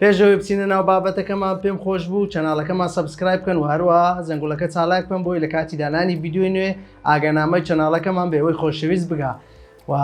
پێشەوەی بچینە ناو بابەتەکەمان پێم خۆش بوو چەناڵەکەمان سبسکرایب بکەن و هەروە زەنگولەکە چالاک بکەن بۆی لە کاتی دانانی یددیوی نوێ ئاگەنامەی چەناڵەکەمان بێەوەی خۆشەویست بگا و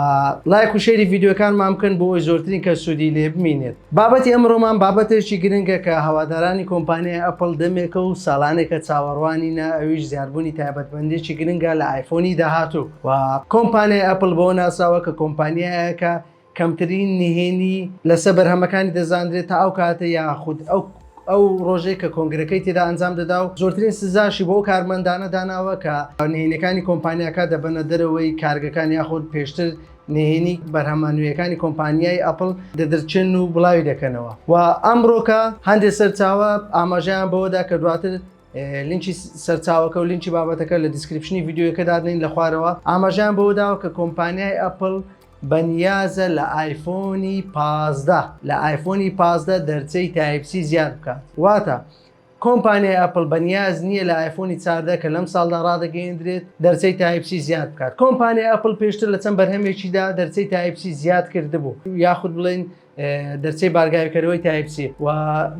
لایک و شێری یددیوەکانمان بکەن بۆی زۆرترین کە سوودی لێ بمینێت بابەتی ئەمڕۆمان بابەتێکی گرنگە کە هەوادارانی کۆمپانیای ئەپل دەمێکە و ساڵانێکە چاوەڕوانی نە ئەویش زیاربوونی تایبەتمەندێکی گرنگە لە ئایفۆنی داهاتوو و کۆمپانیای ئەپل بۆ ناساوە کە کۆمپانیایەکە کەمترین نهێنی لەسەر بەرهەمەکانی دەزاندرێت تا ئەو کاتە یاخود ئەو ئەو ڕۆژەی کە کۆنگرەکەی تێدا ئەنجام دەدا و زۆرترین سزاشی بۆ کارمەندانە داناوە کە نهێنیەکانی کۆمپانیاکە دەبەنە دەرەوەی کارگەکان یاخود پێشتر نهێنی بەرهەمە نوێیەکانی کۆمپانیای ئەپل دەدرچێن و بڵاوی دەکەنەوە و ئەمڕۆکە هەندێک سەرچاوە ئاماژیان بەوەدا کە دواتر لینکی سەرچاوەکە و لینکی بابەتەکە لە دیسکرپشنی یددیوەکە دادنین لە خوارەوە ئاماژیان بەوەداوە کە کۆمپانیای ئەپل بەنیازە لە ئایفۆنی پازدە لە ئایفۆنی پازدە دەرچەی تایپ سی زیاد بکات واتە کۆمپانیای ئەپل بەنیاز نییە لە ئایفۆنی چاردە کە لەم ساڵدا ڕادەگەیەندرێت دەرچەی تایپ سی زیاد بکات کۆمپانیای ئەپل پێشتر لە چەند بەرهەمێکیدا دەرچەی تایپ سی زیاد کردبوو یاخود بڵێن دەرچەی بارگاویکەرەوەی تایپسی و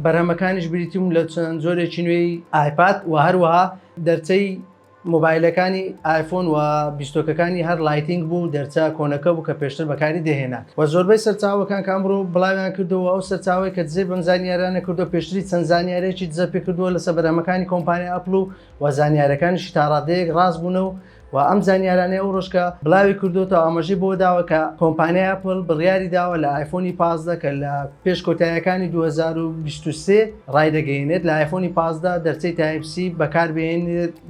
بەرهەمەکانیش بریتیم لە چەند جۆرێکی نوێی ئایپات و هەروەها دەرچەی مۆبایلەکانی ئایفۆن و بیستۆکەکانی هەر لایتینگ بوو دەرچە کۆنەکە بوو کە پێشتر بەکاری دەهێنا و زۆربەی سەرچاوەکان کە ئەمڕۆ بڵاویان کردەوە ئەو سەرچاوەی کە دزەی بەم زانیاریانە کردووە پێشتری چەند زانیاریەکی دزە پێ کردووە لەسە بەرهەمەکانی کۆمپانیا ئەپڵ و و زانیارەکانیشی تاڕادەیەک ڕاست بوونە و و ئەم زانیارانەی ئەو ڕۆژ کە بڵاوی کردووەتەوە ئاماژەی بەوە داوە کە کۆمپانیای ئەپڵ بڕیاری داوە لە ئایفۆنی پازدە کە لە پێش کۆتاییەکانی دوو هەزار و بیست و سێ ڕایدەگەیەنێت لە ئایفۆنی پازدە دەرچەی تایپ سی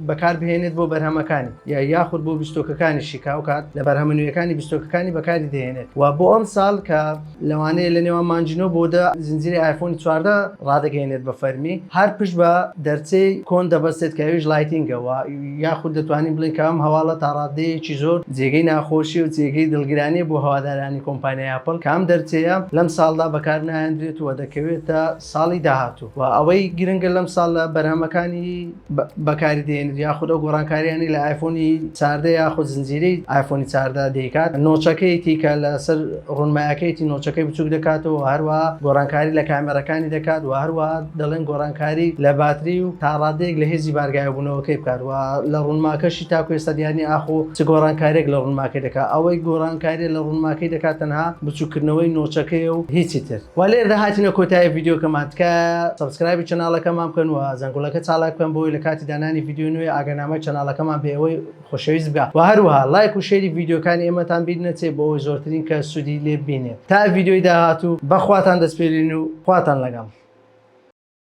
بەکاربهێنێت بۆ بەرهەمەکانی یا یاخود بۆ بیستۆکەکانی شیکاوکات لە بەرهەمە نوێیەکانی بیستۆکەکانی بەکاری دەهێنێت و بۆ ئەم ساڵ کە لەوانەیە لە نێوان مانجینۆ بۆ دە زنجیرەی ئایفۆنی چواردە ڕادەگەیەنێت بە فەرمی هەر پشت بە دەرچەی کۆن دەبەستێت کە ئەویش لایتینگە و یاخود دەتوانین بڵێین کە ئەم هەواڵە تا ڕاددەیەکی زۆر جێگەی ناخۆشی و جێگەی دڵگرانیە بۆ هەوادارانی کۆمپانیای ئەپڵ کە ئەم دەرچەیە لەم ساڵدا بەکار ناهێندرێت و دەکەوێتە ساڵی داهاتوو و ئەوەی گرنگە لەم ساڵ لە بەرهەمەکانی بەکاری دێنێت یاخود ئەو گۆڕانکاریانی لە ئایفۆنی چاردە یاخود زنجیرەی ئایفۆنی چاردە دەیکات نۆچەکەیەتی کە لەسەر ڕونمایەکەیەتی نۆچەکەی بچوک دەکاتەوە هەروە گۆڕانکاری لە کامێرەکانی دەکات و هەروە دەڵێن گۆڕانکاری لە باتری و تا ڕادەیەک لە هێزی بارگایەبوونەوەکەی بکات و لە ڕوونماکەشی تاکو ئێستا دیار نییە ئاخۆ چ گۆڕانکارییەک لە ڕوونماکەی دەکات، ئەوەی گۆڕانکارییە لە ڕوونماکەی دەکات تەنها بچووککردنەوەی نۆچەکەیە و هیچی تر. وە لێرەدا هاتینە کۆتایی ڤیدیۆکەمان، تکایە سەبسکرایبی چەناڵەکەمان بکەن و زەنگوڵەکە چاڵاک بکەن بۆ ئەوەی لە کاتی دانانی ڤیدیۆی نوێ ئاگانامەی چەناڵەکەمان بێ ئەوەی خۆشەویست بکە و هەروەها لایک و شێری ڤیدیۆکانی ئێمەتان بیر نەچێت بۆ ئەوەی زۆرترین کەس سوودی لێ ببینێت تا ڤیدیۆی داهاتوو بەخواتان دەسپێرین و خواتان لەگەڵ.